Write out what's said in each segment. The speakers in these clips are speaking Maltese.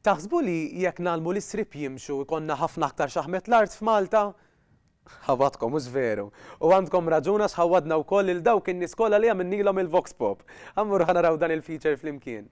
Taħsbu li jekk ngħallmu lis-sriep jimxu jkollna ħafna aktar xaħmet l-art f'Malta? Ħawadkom, mhux veru! U għandkom raġun għax ħawadna wkoll lil dawk in-nies kollha li għamilnielhom il-Voxpop. Ammur ħa naraw dan il-feature flimkien.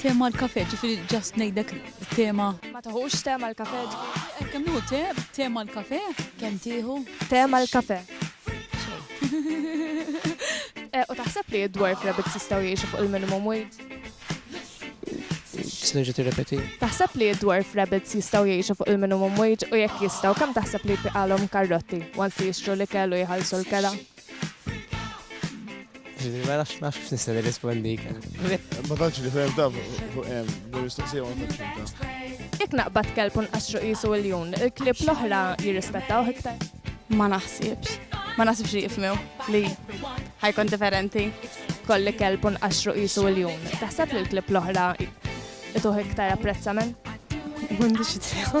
Tema l-kafe, ġifiri ġast nejdek tema. Ma taħux tema l-kafe. Kem nuhu te, tema l-kafe? Kem tiħu? Tema l-kafe. Eh, u taħseb li id-dwarf rabbit sistaw jiexu fuq il-minimum wage? Sneġa tirrepeti. Taħseb li id-dwarf rabbits jistaw jiexu fuq il-minimum wage u jekk jistaw, kam taħseb li jpiqalhom karrotti once jixtru li kellu jħallsu l-kera? Ġifiri, ma nafx nafx biex nista' nirrispondik. Ma tantx li fem taf, mistoqsija ma tantx inta. Jekk naqbad kelb u nqaxxru qisu l-jun, il-klib l-oħra jirrispettaw iktar. Ma naħsibx. Ma naħsibx li jifmew li ħajkun differenti. Kolli kelb u nqaxxru qisu l-jun. Taħseb li l-klib l-oħra ituħ iktar apprezzament? M'għandix idea.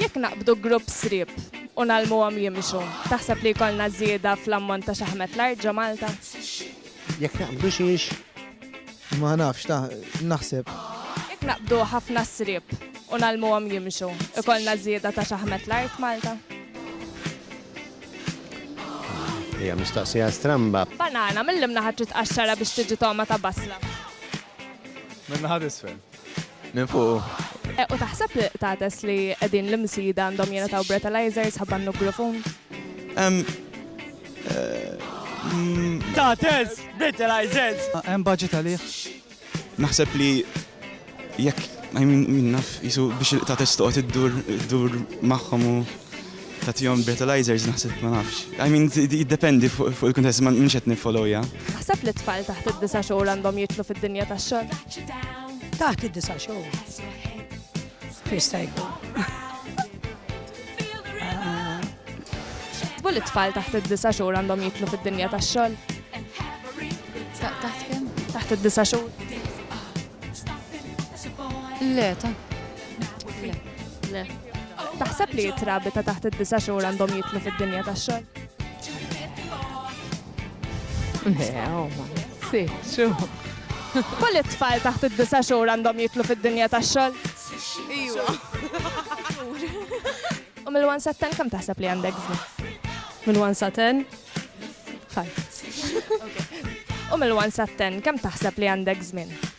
Jekk naqbdu grupp sriep u nalmuhom jimxu, taħseb li jkollna żieda fl-ammont ta' xaħmet l-art ġo Malta? Jekk naqbdu xiex? Ma nafx, ta' naħseb. Jekk naqbdu ħafna sriep u nalmuhom jimxu, ikollna żieda ta' xaħmet l-art Malta? Hija mistaqsija stramba. Banana, mill-imnaħa trid qaxxara biex tiġi togħma ta' basla. Mill-naħa isfel. Minn fuqu. Eh, u taħseb li tates li qegħdin l-imsida għandhom jingħataw breathalyzers ħabba n-nuklofon? Eh, mm, tates, breathalyzers! Ah, hemm budget għalih. Naħseb li jekk I mean, minnaf, jisu biex il-tates toqgħod iddur iddur magħhom u Tagħtihom breathalyzers naħseb ma nafx. I mean jiddependi fuq il-kuntest ma minx qed niffollowja. Taħseb li t-tfal taħt id-disa' xhur għandhom jidħlu fid-dinja tax-xogħol? Taħt id-disa' xhur. Krista jkun. Taħsbu li tfal taħt id-disa xhur għandhom jitlu fid-dinja tax-xogħol? Taħt kemm? Taħt id-disa xhur. Le, ta' Le, le. Taħseb li jitrabi ta' taħt id-disa xhur għandhom jitlu fid-dinja tax-xogħol? Le, huma. Si, xu. Kull it-tfal taħt id-disa xhur għandhom jitlu fid-dinja tax-xogħol? Iwa. U mill-1 sa 10 kemm taħseb li għandek żmien? Minn 1 sa 10? Ħajt. U mill-1 sa 10 kemm taħseb li għandek żmien?